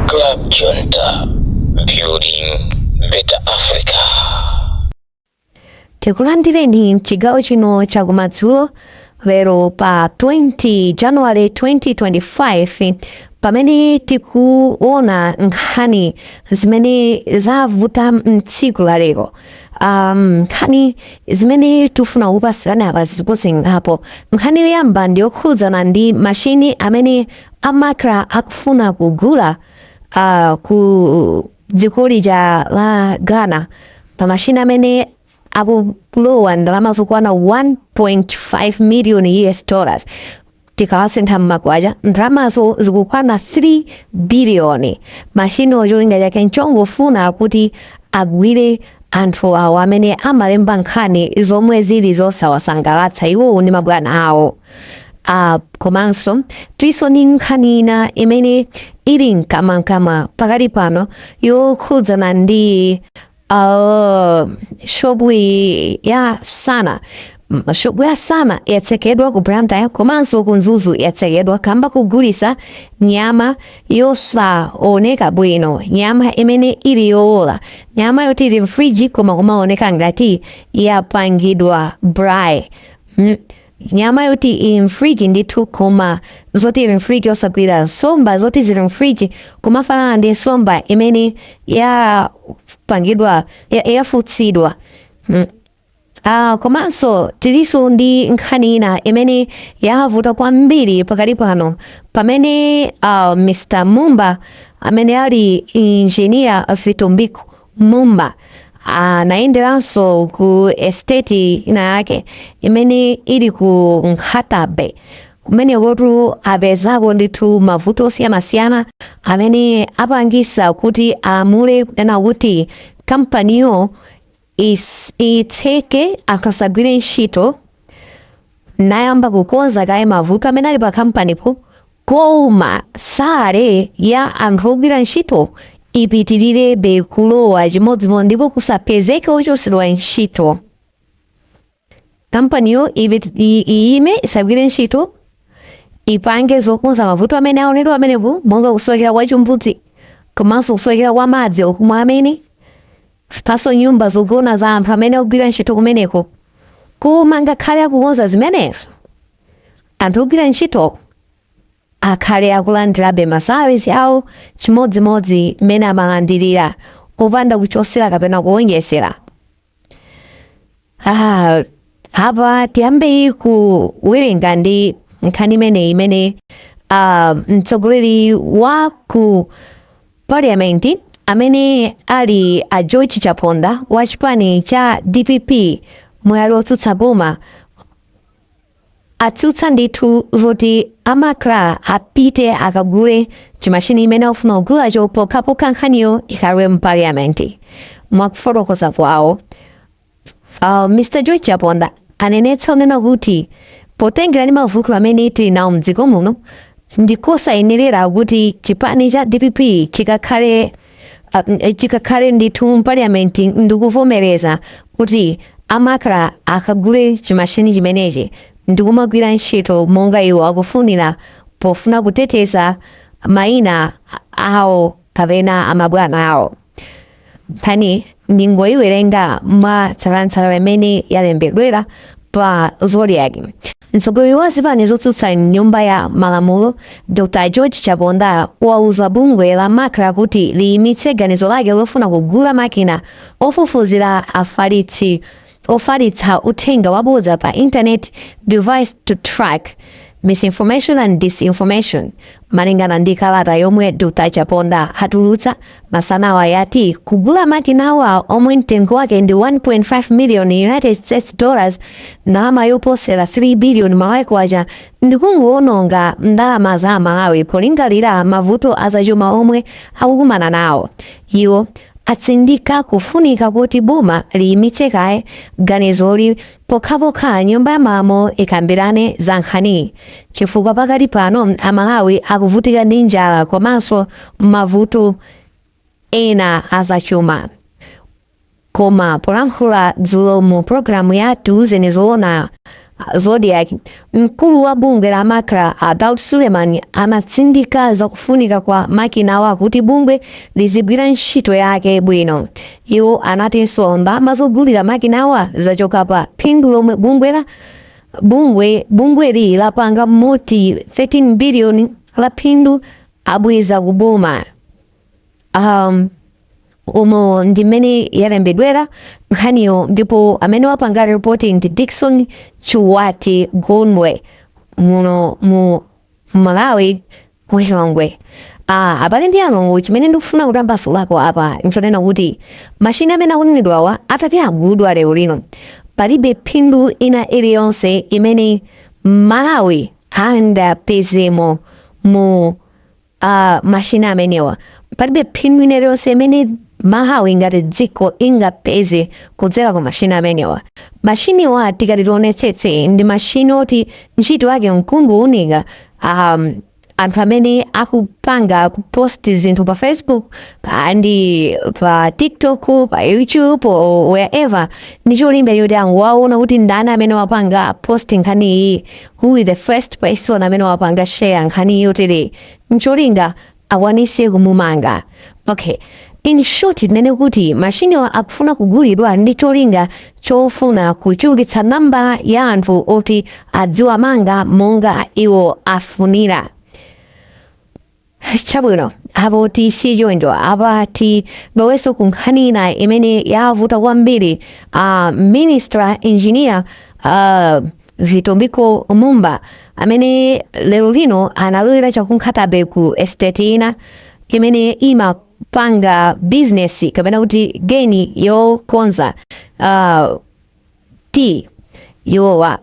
Club Junta, building better Africa. tikulandireni mchigawo chino chakumadzulo lero pa 20 january 2025 pamene tikuona nkhani zimene zavuta mtsiku la lero um, nkhani zimene tifuna kupasirana apa zilipo zingapo nkhani yoyamba ndi yokhudzana ndi mashini amene a macra akufuna kugula uh, ku dziko lija la ghana pa mashini amene akulowa ndalama zokwana 1.5 million us dollars tikawasintha mmakwacha ndalamazo zikukwana 3 biliyoni mashiniwo cholinga chake nchongofuna kuti agwire anthu awo amene amalemba nkhani zomwe zili zosawasangalatsa iwowo ndi mabwana awo Ah, komanso tilinso ndi nkhani ina imene ili mkamwamkamwa pakali pano yokhudzana ndi ah, shopu iyi ya sana M- shopu ya sana yatsekedwa ku blantyre komanso ku mzuzu yatsekedwa kamba kogulisa nyama yosaoneka bwino nyama imene ili yowola nyama yoti ili mfriji koma kumaoneka ngati yapangidwa brai mm. nyama yoti ili mfriji ndithu koma zoti ili mfriji osagwira nsomba zoti zili mfriji kumafanana ndi nsomba imene yapangidwa ya- yafutsidwa mm. Ah, komanso tilinso ndi nkhani ina imene yavuta kwambiri pakali pano pamene ah, mr mumba amene ali injiniya vitumbiko Mumba anayenderanso ku esiteti ina yake imene ili ku Nkhata-Bay. Kumenekotu apezako ndithu mavuto osiyanasiyana amene apangisa kuti alamule kunena kuti kampaniyo itseke, akasagwire ntchito. nayamba kukonza kaye mavuto amene ali pa kampanipo koma salary ya anthu ogwira ntchito ipitilirebe kulowa chimodzimodzi ndipo kusapezeke ochotsedwa ntchito kampaniyo ibe- i- iyime isagwire ntchito ipange zokonza mavuto amene aonedwa amenepo monga kusowekera kwa chimbudzi komanso kusowekera kwa madzi okumwa amene Palinso nyumba zogona za anthu amene akugwira ntchito kumeneko. Koma ngakhale akukonza zimenezo, anthu ogwira ntchitowo akhale akulandirabe masalaries awo chimodzimodzi mmene amalandirira, popanda kuchosera kapena kuwonjezera. Ah, apa tiyambe kuwerenga ndi nkhani imeneyi imene ah, mtsogoleri wa ku parliament amene ali a george chaponda wa chipani cha dpp mbali yotsutsa boma atsutsa ndithu zoti a Macra apite akagule chimashini chimene akufuna kugulacho pokhapokha nkhaniyo ikhale mu parliament mwakufotokoza kwawo uh, mr george chaponda anenetsa kunena kuti potengera ndi mavuto amene tili nawo mdziko muno ndikosayenerera kuti chipani cha dpp chikakhale Ah, n- eh, chikakhale ndithu mu parliament ndikuvomereza kuti a Macra akagule chimashini chimenechi ndikumagwira ntchito monga iwo akufunira pofuna kuteteza maina awo kapena amabwana awo nkhani ndingoyiwerenga mwa tsatanetsatane mmene yalembedwera pa Zodiak Mtsogoleri wa zipani zotsutsa m'Nyumba ya Malamulo, Dr. George Chaponda, wauza bungwe la Macra kuti liimitse ganizo lake lofuna kugula makina ofufuzira afalitsi ofalitsa uthenga wabodza pa intaneti, Device to Track Misinformation and Disinformation, malingana ndi kalata yomwe Dr. Chaponda atulutsa. Masanawa yati kugula makinawa omwe mtengo wake ndi 1.5 million United States dollars ndalama yoposera 3 billion malawi kwacha ndikungowononga ndalama za Amalawi polingalira mavuto azachuma omwe akukumana nawo. Iwo atsindika kufunika kuti boma liyimitse kaye ganizoli Pokhapokha Nyumba ya Malamulo ikambirane za nkhaniyi chifukwa pakali pano Amalawi akuvutika ndi njala komanso mavuto ena a zachuma. Koma polankhula dzulo mu pulogalamu ya Tiuzeni Zoona Zodiak, mkulu wa bungwe la Macra a Daud Suleman anatsindika za kufunika kwa makinawa kuti bungwe lizigwira ntchito yake bwino Iwo anatinso ndalama zogulira makinawa zachoka pa phindu lomwe bungwe la bungwe bungweli lapanga moti 13 biliyoni la phindu abweza ku boma. Um, umo ndi mmene yalembedwera nkhaniyo ndipo amene wapanga ripoti ndi Dickson Chuwati Gondwe muno mu Malawi ku Lilongwe. Ah, abale ndi alongo chimene ndikufuna kutambasulapo apa nchonena kuti mashini amene akunenedwawa atati agulidwa lero lino palibe phindu ina iliyonse imene Mmalawi angapezemo mu ah, mashini amenewa palibe phindu ina iliyonse imene Malawi ngati dziko ingapeze kudzera ku mashini amenewa mashiniwa tikati tionetsetse ndi mashini oti ntchito yake nkungowunika um, anthu amene akupanga kupost zinthu pa facebook pa ndi pa tiktok pa youtube or wherever ndi cholinga choti angowaona kuti ndani amene wapanga post nkhani iyi who is the first person amene wapanga share nkhani yotere ncholinga akwanise kumumanga ok in short tinene kuti mashiniwa akufuna kugulidwa ndi cholinga chofuna kuchulukitsa namba ya anthu oti aziwamanga monga iwo afunira chabwino apo tisiye choncho apa tilowenso ku nkhani ina imene yavuta kwambiri uh, minister engineer uh, Vitumbiko Mumba amene lero lino analowera chaku Nkhata Bay ku estate ina imene imapanga bizinesi kapena kuti geni yokonza uh, tea iwowa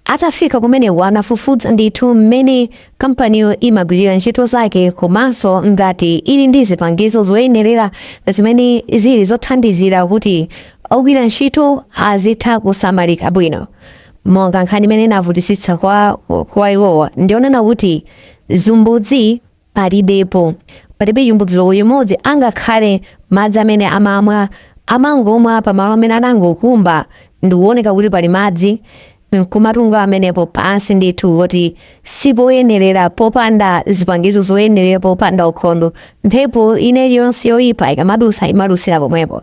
atafika kumene anafufuza ndithu mmene kampaniyo imagwirira ntchito zake komanso ngati ili ndi zipangizo zoyenerera zimene zili zothandizira kuti ogwira ntchito azitha kusamalika bwino monga nkhani imene inavutitsitsa kwa, kwa iwowa ndi yonena kuti zimbudzi palibepo palibe chimbudzi olo chimodzi angakhale madzi amene amamwa amangomwa pamalo amene anangokumba ndikuoneka kuti pali madzi nkumatunga pamenepo pansi ndithu kuti sipoyenerera popanda zipangizo zoyenerera popanda ukhondo mphepo ina iliyonse yoipa ikamadusa imadusira pomwepo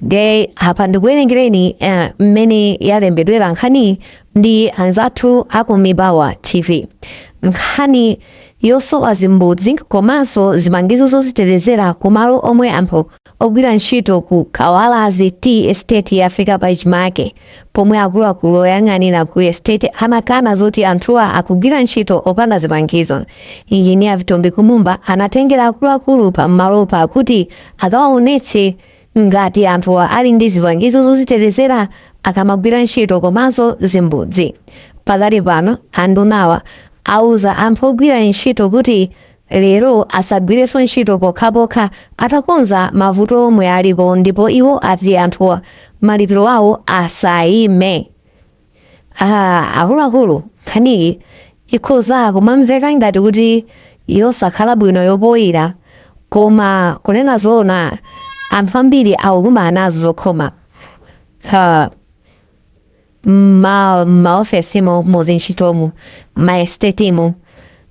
ndiye apa ndikuwerengereni eh, mmene yalembedwera nkhani ndi anzathu aku mibawa tv nkhani yosowa zimbudzi komanso zipangizo zozitetezera ku malo omwe anthu amagwira ntchito ku kawalazi tea estate yafika pachimake pomwe akuluakulu oyang'anira ku estate amakana zoti anthuwa akugwira ntchito opanda zipangizo engineer vitumbiko mumba anatengera akuluakulu pa malopa kuti akawaonetse Ngati anthuwa ali ndi zipangizo zozitetezera akamagwira ntchito komanso zimbudzi. Pakali pano andunawa auza anthu ogwira ntchito kuti lero asagwirenso ntchito pokhapokha atakonza mavuto omwe alipo ndipo iwo ati anthuwa malipiro awo asaime. Ah, akuluakulu nkhaniyi ikhoza kumamveka ngati kuti yosakhala bwino yopoira koma kunena zoona anthu ambiri akukumana nazo zokhoma Ah, ma maofesimo muzintchitomu ma estate-mu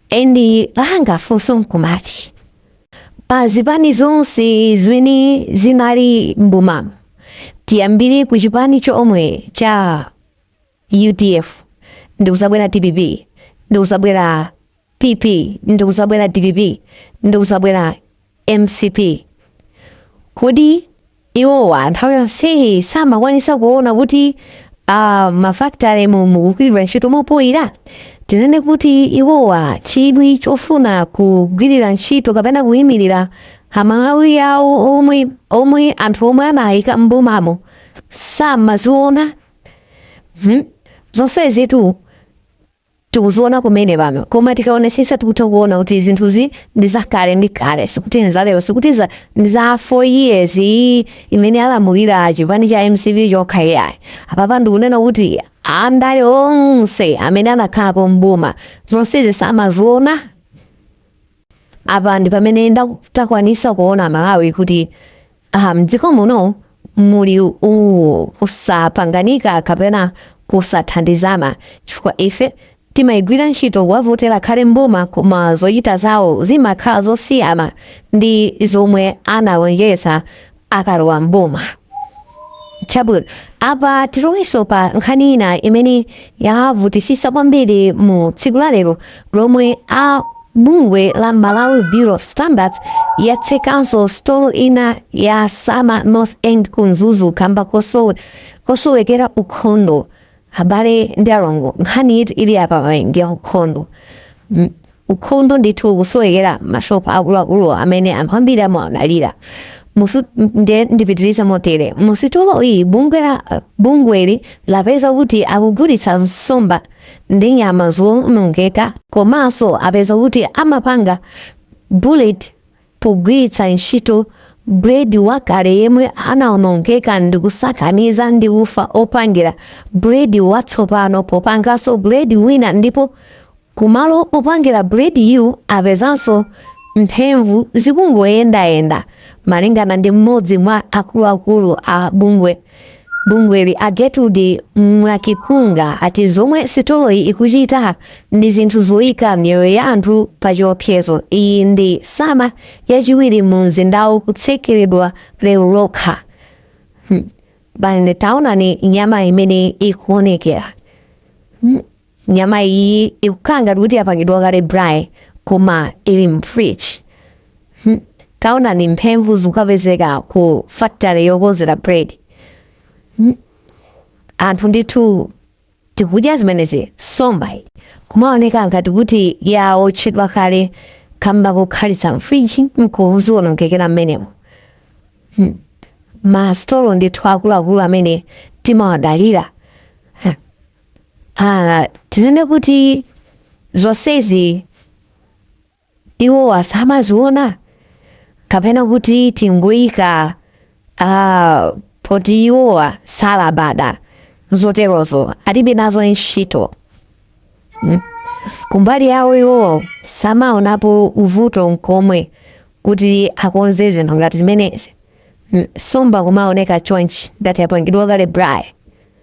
endi langa funso nkumati pa zipani zonse zimene zinali mboma tiyambire ku chipani chomwe cha udf ndikuzabwera dpp ndikuzabwera pp ndikuzabwera dpp ndikuzabwera mcp kodi iwowa nthawi yonseyi samakwanisa kuona kuti ah, mafakitalemu mukugwiridwa ntchito mopoyira tinene kuti iwowa chidwi chofuna kugwirira ntchito kapena kuyimirira amalawi awo omwe omwe anthu omwe anawayika mbomamo samaziona hmm? zonsezitu tikuziona kumene pano koma tikaonesesa tikutha kuona kuti zinthuzi ndi zakale ndi kale sikuti ndi zalero sikuti za ndi za 4 years iyi imene alamulira chipani cha mcp chokha iyayi apapa ndikunena kuti andale onse amene anakhalapo mboma zonsezi samaziona apa ndi pamene takwanisa kuona amalawi kuti aha mdziko muno muli uwu kusapanganika kapena kusathandizana chifukwa ife timayigwira ntchito kuwavotera akhale mboma koma zochita zawo zimakhala zosiyana ndi zomwe analonjeza akalowa mboma chabwino apa tiloweso pa nkhani ina imene yavutisisa kwambiri mu tsiku la lero lomwe a bungwe la malawi bureau of standards yatsekanso sitolo ina ya sana north end ku mzuzu kamba kosowe- kosowekera ukhondo Abale ndi alongo, nkhani iyi ili apayi ndi ya ukhondo. M, ukhondo ndithu ukusowekera m'mashop akuluakuluwa amene anthu ambiri amawadalira. Mu su, nde ndipitirize motere. Mu sitolo iyi bungwe la, bungweli lapeza kuti akugulitsa nsomba ndi nyama zoonongeka komanso apeza kuti amapanga buledi pogwiritsa ntchito buledi wakale yemwe anawonongeka ndi kusakaniza ndi ufa opangira buledi watsopano popanganso buledi wina ndipo kumalo opangira bulediyu apezanso mphemvu zikungoyendayenda, malingana ndi m'modzi mwa akuluakulu a bungwe Bungweli a Gertrude Mwakikunga ati zomwe sitoloyi ikuchita ndi zinthu zoyika miyoyo ya anthu pa chiopsezo. Iyi ndi Sana yachiwiri mu mzindawu kutsekeredwa lero lokha. Abale taonani nyama imene ikuonekera. nyama iyi ikukhala ngati kuti yapangidwa kale braai koma ili mfridge Hmm. taonani mphemvu zikupezeka ku factory yokonzera bread Hmm. anthu ndithu tikudya zimenezi nsomba kumaoneka ngati kuti yaotchedwa kale kamba kokhalitsa mfridge nkudziwonongekera mmenemo Hmm. masitolo ndithu akuluakulu amene timawadalira Ah, tinene kuti zonsezi iwowa samaziona kapena kuti tingoyika ah, poti iwowa salabada zoterozo alibe nazo ntchito Mm. kumbali yawo iwowa samaonapo uvuto nkomwe kuti akonze zinthu ngati zimenezi Mm, nsomba kumaoneka chonchi ngati yapangidwa kale braai